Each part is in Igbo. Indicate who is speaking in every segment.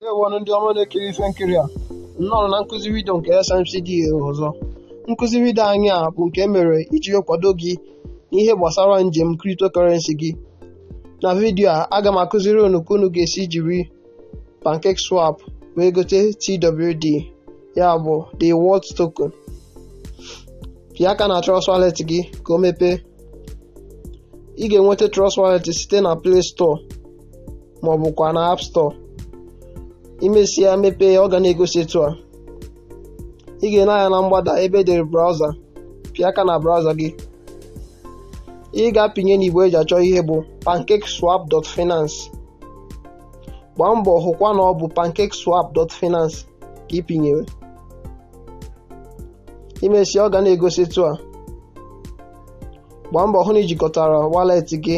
Speaker 1: Ndewo nụ ndị ọma na-ekiri ife nkiri a nnọọ na nkụzi vidio nke SMCD ọzọ nkụzi vidio anyị a bụ nke e mere iji kwado gị n'ihe gbasara njem cryptocurrency gị na vidio a aga m akụziri unu ka unu ga-esi jiri pancake swap wee gote TWD ya bụ the world token pịa aka na trust wallet gị ka o mepee ị ga-enweta trust wallet site na play store ma ọ bụkwa na app store i mesịa mepee ọ ga na-egosi etu a ị ga-ene anya na mgbada ebe edere browser pịa aka na browser gị ị ga-apịnye n'igbe eji achọ ihe bụ pancakeswap.finance gbaa mbọ hụkwa na ọ bụ pancakeswap.finance ka ị pịnyere i mesịa ọ ga na-egosi etu a gbaa mbọ hụ na i jikọtara wallet gị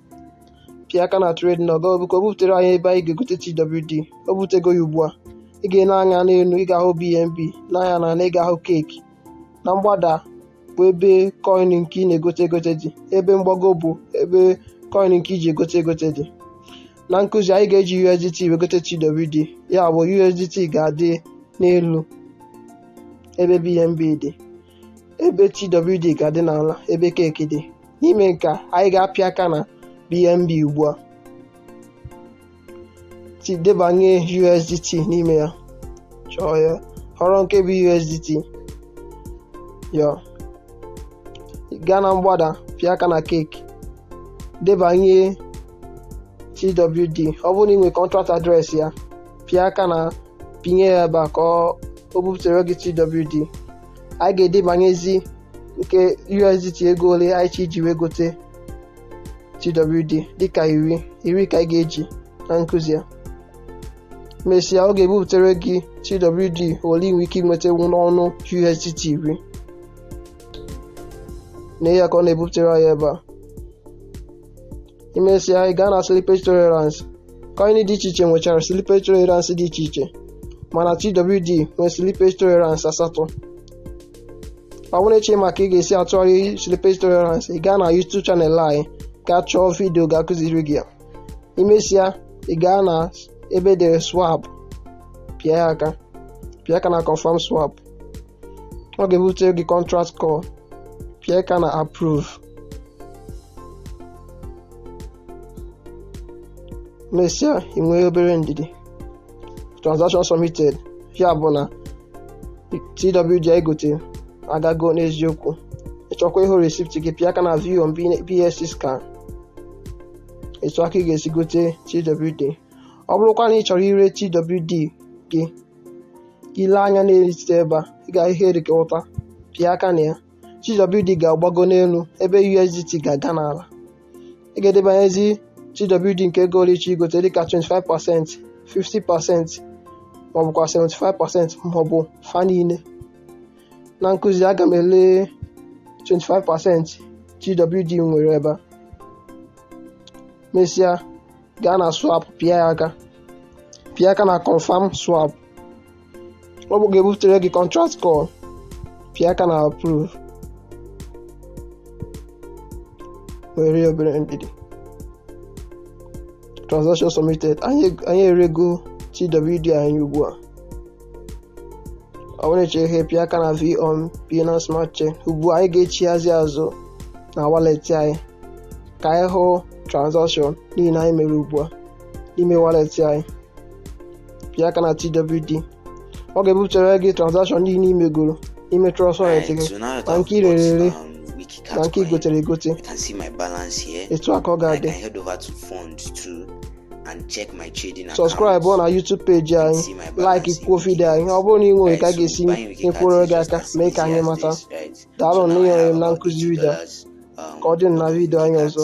Speaker 1: pịa aka na trade now ka o buputere anyị ebe anyị ga-egote TWD o buputego ya ugbu a ị ga-ene anya n'elu ị ga-ahụ BNB nee anya n'ana ị ga-ahụ cake na mgbada bụ ebe coin nke ị na-egote egote dị ebe mgbago bụ ebe coin nke i ji egote egote dị na nkụzi anyị ga-eji USDT wee gote TWD ya bụ USDT ga-adị n'elu ebe BNB dị ebe TWD ga-adị n'ala ebe cake dị n'ime nke a anyị ga-apịa aka na bnb ugbu a debanye usdt n'ime ya chọọ ya họrọ nke bụ usdt ya gaa na mgbada pịa aka na cake debanye twd ọ bụrụ na ị nwere contract address ya pịa aka na pịnye ya ebe a ka o bupụtara gị twd anyị ga-edebanyezi nke USDT ego ole anyị chọ iji wee gote TWD dịka iri iri ka anyị ga-eji na nkụzi a mesịa ọ ga-ebupụtara gị TWD ole ị nwere ike inweta n'ọnụ USDT iri nee ya ka ọ na-ebupụtara anyị ebe a imesịa ị gaa na slippage tolerance coin dị iche iche nwechara slippage tolerance dị iche iche mana twd nwe slippage tolerance asatọ ọ bụrụ na ị chọ ịma ka ị ga-esi atụgharị slippage tolerance ị gaa na youtube channel anyị gaa chọọ vidio ga-akụziri gị ya imesịa ị gaa na ebe edere swap pịa ya aka pịa aka na confirm swap ọ ga-ebute gị contract call pịa aka na approve mesịa ị nwee obere ndidi transaction submitted ya bụ na twd anyị gote agago n'eziokwu ị chọkwa ịhụ receipt gị pịa aka na view on BSC scan etu a ka ị ga-esi gote twd ọ bụrụkwa na ị chọrọ ire twd gị i lee anya n'etiti ebe a ị ga-ahụ ihe dị ka ụta pịa aka na ya TWD ga-agbago n'elu ebe USDT ga-aga n'ala ị ga-edebanyezi TWD nke ego ole ị chọ igote dịka 25% 50% maọbụkwa 75% maọbụ fa niile na nkuzi a aga m ele 25% TWD m nwere ebe a mesịa gaa na swap pịa ya aka pịa aka na confirm swap ọ bụ ga-ebutere gị contract call pịa aka na approve nwere obere ndidi transaction submitted anyị erego twd anyị ugbu a ọ bụrụ ị chọ ịhụ ya pịa aka na view on Binance smart chain ugbu a anyị ga-echighazi azụ na wallet anyị ka anyị hụ transaction niile anyị mere ugbu a n'ime wallet anyị pịa aka na TWD ọ ga-ebupụtara gị transaction niile i megoro n'ime trust wallet gị na nke i rere ere na nke i gotere egote etu a ka ọ ga-adị subscribe na YouTube peji anyị like kwuo vidio anyị ọ bụrụ na ị nwere ka a ga-esi nyekwuoro gị aka mee ka anyị mata daalụ na ịnyere m na nkuzi vidio ka ọ dị na vidio anyị ọzọ